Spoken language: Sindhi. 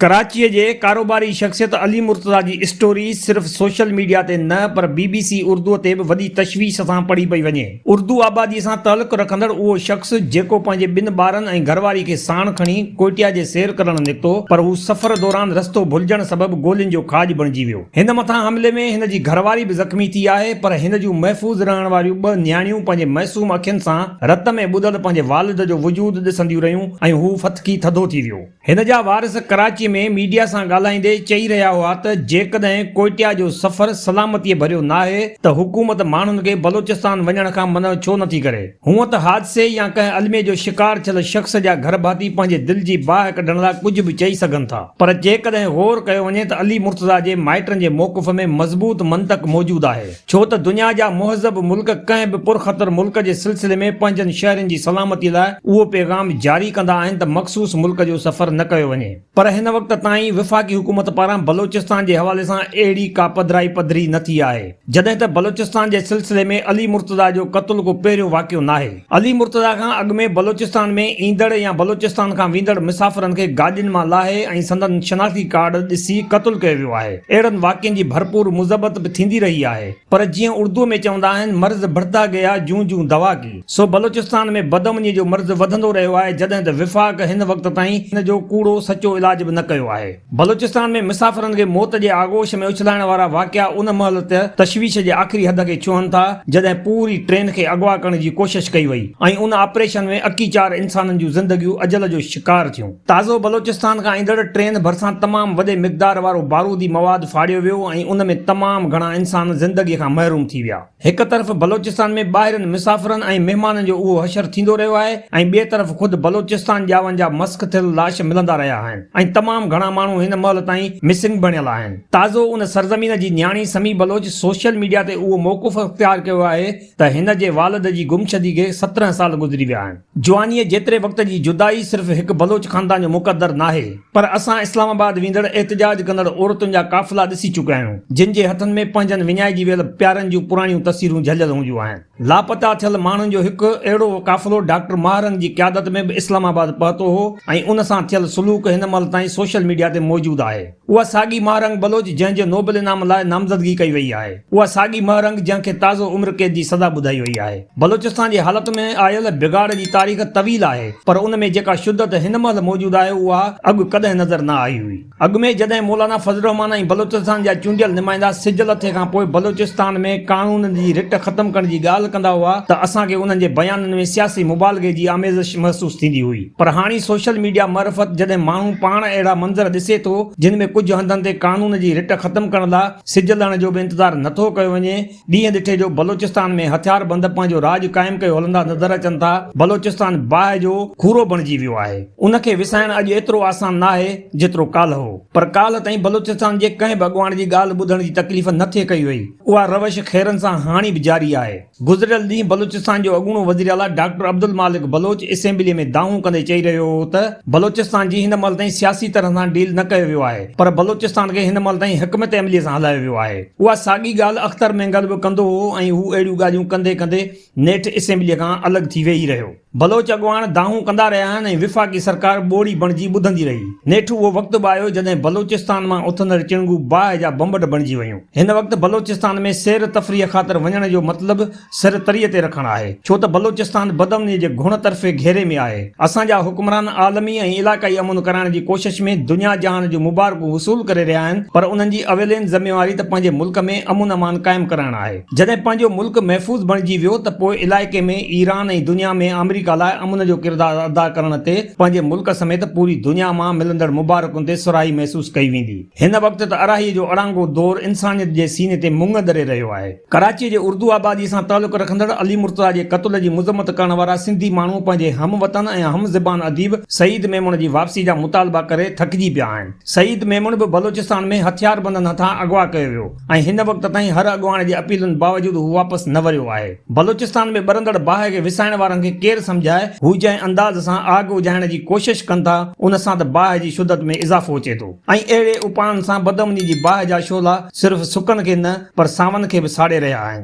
ڪراچيء جي ڪاروباري شخصيت علي مرتضيٰ جي اسٽوري صرف سوشل ميڊيا تي نه پر بي بي سي اردوء تي به وڏي تشويش سان پڙهي پئي وڃي. اردو آباديء سان تعلق رکندڙ اهو شخص جيڪو پنهنجي ٻن ٻارن ۽ گهرواري کي ساڻ کڻي ڪوئٽيا جي سير ڪرڻ نڪتو پر هو سفر دوران رستو ڀلجڻ سبب گولين جو کاڄ بڻجي ويو. هن مٿان حملي ۾ هن جي گهرواري به زخمي ٿي آهي پر هن جون محفوظ رهڻ واريون ٻه نياڻيون پنهنجي معصوم اکين سان رت ۾ ٻڏل پنهنجي والد جو وجود ڏسنديون رهيون ۽ هو ڦٿڪي ٿڌو ٿي ويو. هن جا وارث ڪراچي ۾ ميڊيا سان ڳالهائيندي چئي رهيا هئا ته جيڪڏهن ڪوئٽيا جو سفر سلامتي ڀريو ناهي ته حڪومت ماڻهن کي بلوچستان وڃڻ کان منع ڇو نٿي ڪري. هونء ته حادثي يا ڪنهن الميي جو شڪار ٿيل شخص جا گهر ڀاتي پنهنجي دل جي باهه ڪڍڻ لاء ڪجهه به چئي سگهن ٿا پر جيڪڏهن غور ڪيو وڃي ته علي مرتضيٰ جي مائٽن جي موقف ۾ مضبوط منطق موجود آهي. ڇو ته دنيا جا مهذب ملڪ ڪنهن به پرخطر ملڪ جي سلسلي ۾ پنهنجن شهرين جي سلامتي لاء اهو پيغام جاري ڪندا آهن ته مخصوص ملڪ جو سفر نه ڪيو وڃي پر هن وقت تائين وفاقي حڪومت پاران بلوچستان جي حوالي سان اهڙي ڪا پڌرائي پڌري نه ٿي آهي جڏهن ته بلوچستان جي سلسلي ۾ علي مرتضيٰ جو قتل ڪو پهريون واقعو ناهي. علي مرتضيٰ کان اڳ ۾ بلوچستان ۾ ايندڙ يا بلوچستان کان ويندڙ مسافرن کي گاڏين مان لاهي ۽ سندن شناختي ڪارڊ ڏسي قتل ڪيو ويو آهي. اهڙن واقعن جي ڀرپور مذبت به ٿيندي رهي آهي پر جيئن اردوء ۾ چوندا آهن مرض بڙھتا گيا جون جون دوا ڪي سو بلوچستان ۾ بدامنيء جو مرض وڌندو رهيو آهي جڏهن ته وفاق هن وقت تائين ان جو ڪوڙو سچو علاج به نه ڪيو آهي. بلوچستان ۾ مسافرن کي موت جي آغوش ۾ اڇلائڻ وارا واقعا ان مهل ته تشويش جي آخري حد کي ڇهن ٿا جڏهن پوري ٽرين کي اغوا ڪرڻ جي ڪوشش ڪئي وئي ۽ ان آپريشن ۾ اڪي چار انسانن جون زندگيون اجل جو شڪار ٿيون. تازو بلوچستان کان ايندڙ ٽرين ڀرسان تمام وڏي مقدار وارو بارودي مواد ڦاڙيو ويو ۽ ان ۾ تمام گهڻا انسان زندگي کان محروم ٿي ويا. هڪ طرف بلوچستان ۾ ٻاهرين مسافرن ۽ مهمانن جو اهو حشر ٿيندو رهيو آهي ۽ ٻئي طرف خود بلوچستان ڄاون جا مسخ ٿيل لاش ملندا رهيا آهن ۽ تمام گهڻا ماڻهو هن مهل تائين مسنگ بڻيل آهن. تازو ان سرزمين جي نياڻي سمي بلوچ سوشل ميڊيا تي اهو موقف اختيار ڪيو آهي ته هن جي والد جي گمشدي کي سترهن سال گذري ويا آهن. جوانيء جيتري وقت جي جدائي صرف هڪ بلوچ خاندان جو مقدر ناهي، پر اسان اسلام آباد ويندڙ احتجاج ڪندڙ عورتن جا قافلا ڏسي چڪيا آهيون، جن جي هٿن ۾ پنهنجن وڃائجي ويل پيارن جون پراڻيون تصويرون جهليل هونديون آهن. لاپتا ٿيل ماڻهن جو هڪ اهڙو قافلو ڊاڪٽر ماهه رنگ جي قيادت ۾ به اسلام آباد پهتو هو ۽ ان سان ٿيل سلوڪ هن مهل تائين سوشل ميڊيا تي موجود آهي. اها ساڳي مهه رنگ بلوچ جنهن جو نوبل انعام لاء نامزدگي ڪئي وئي آهي، اها ساڳي مهه رنگ جنهن کي تازو عمر قيد جي سزا ٻڌائي وئي آهي. بلوچستان جي حالت ۾ آيل بگاڙ جي تاريخ طويل آهي پر ان ۾ جيڪا شدت هن مهل موجود آهي اها اڳ ڪڏهن نظر نه آئي هئي. اڳ ۾ جڏهن مولانا فضل الرحمان ۽ بلوچستان جا چونڊيل نمائندا سج لٿي کان پوء بلوچستان ۾ قانونن جي رٽ ختم ڪرڻ جي ڳالهه ڪندا هئا ته اسان کي انهن جي بيانن ۾ سياسي مبالغي جي آميزش محسوس ٿيندي هئي. پر هاڻي سوشل ميڊيا معرفت جڏهن ماڻهو پاڻ اهڙا منظر ڏسي ٿو جن ۾ ڪجهه هنڌن تي قانون جي رٽ ختم ڪرڻ لا سج لهڻ جو به انتظار نه ٿو ڪيو وڃي ڏينهن ڏٺي جو بلوچستان ۾ هٿيار بند پنهنجو راڄ قائم ڪيو هلندا نظر اچن ٿا بلوچستان باهه جو کورو بڻجي ويو آهي ان کي وسائڻ اڄ ايترو آسان ناهي جيترو ڪالهه هو پر ڪالهه تائين بلوچستان جي ڪنهن به اڳواڻ جي ڳالهه ٻڌڻ جي تڪليف نه ٿي ڪئي وئي اها روش خيرن سان هاڻي به جاري آهي. گذريل ڏينهن بلوچستان جو اڳوڻو وزيراعليٰ ڊاڪٽر عبدالمالڪ بلوچ اسيمبلي ۾ دانهون ڪندي چئي رهيو هو ته بلوچستان جي هن مهل تائين سياسي طرح سان ڊيل نه ڪيو ويو آهي پر بلوچستان کي هن مهل تائين حڪمت عملي سان هلايو ويو آهي. اها ساڳي ڳالهه اختر مينگل به ڪندو هو ۽ هو اهڙيون ڳالهيون ڪندي ڪندي نيٺ اسيمبلي کان الڳ ٿي ويهي رهيو. بلوچ اڳواڻ دانهون ڪندا رهيا آهن ۽ وفاقي سرڪار ٻوڙي بڻجي ٻڌندي رهي. نيٺ اهو وقت به آيو جڏهن بلوچستان مان اٿندڙ چڻگو باهه جا بمبڙ بڻجي ويون. هن وقت بلوچستان ۾ سير تفريح خاطر وڃڻ جو مطلب سر تري تي رکڻ آهي، ڇو ته بلوچستان بدامنيء جي گهڻ طرفي گهيري ۾ آهي. اسان جا حڪمران عالمي ۽ علاقائي امن ڪرائڻ جي ڪوشش ۾ دنيا جهان جون مبارڪون وصول ڪري رهيا آهن، پر انهن جي اولين ذميواري ته پنهنجي ملڪ ۾ امن امان قائم ڪرائڻ آهي. جڏهن پنهنجو ملڪ محفوظ بڻجي ويو ته پوء علائقي ۾ ايران ۽ دنيا ۾ آمريڪا لاء امن جو ڪردار ادا ڪرڻ تي پنهنجي ملڪ سميت پوري دنيا مان ملندڙ مبارڪن تي سرهائي محسوس ڪئي ويندي. هن وقت ته اراهيء جو اڙانگو دور انسانيت جي سيني تي مڱ ڏري رهيو آهي. ڪراچيء جي اردو آباديء سان تعلق رکندڙ علي مرتضيٰ جي قتل جي مذمت ڪرڻ وارا سنڌي ماڻهو پنهنجي هم وطن ۽ هم زبان اديب سعيد ميمڻ جي واپسي جا مطالبا ڪري ٿڪجي پيا آهن. سعيد ميمڻ به بلوچستان ۾ هٿياربندن هٿان اغوا ڪيو ويو. ۽ هن وقت تائين هر اڳواڻ جي اپيلن باوجود هو واپس نه وريو آهي. بلوچستان ۾ ٻرندڙ باهه کي وسائڻ وارن کي ڪير سمجهائي، هو جنهن انداز سان آگ اجهائڻ جي ڪوشش ڪن ٿا، ان سان ته باهه جي شدت ۾ اضافو اچي ٿو ۽ اهڙي اپائن سان بدامني جي باهه جا شعلا صرف سڪن کي نه پر ساون کي به ساڙي رهيا آهن.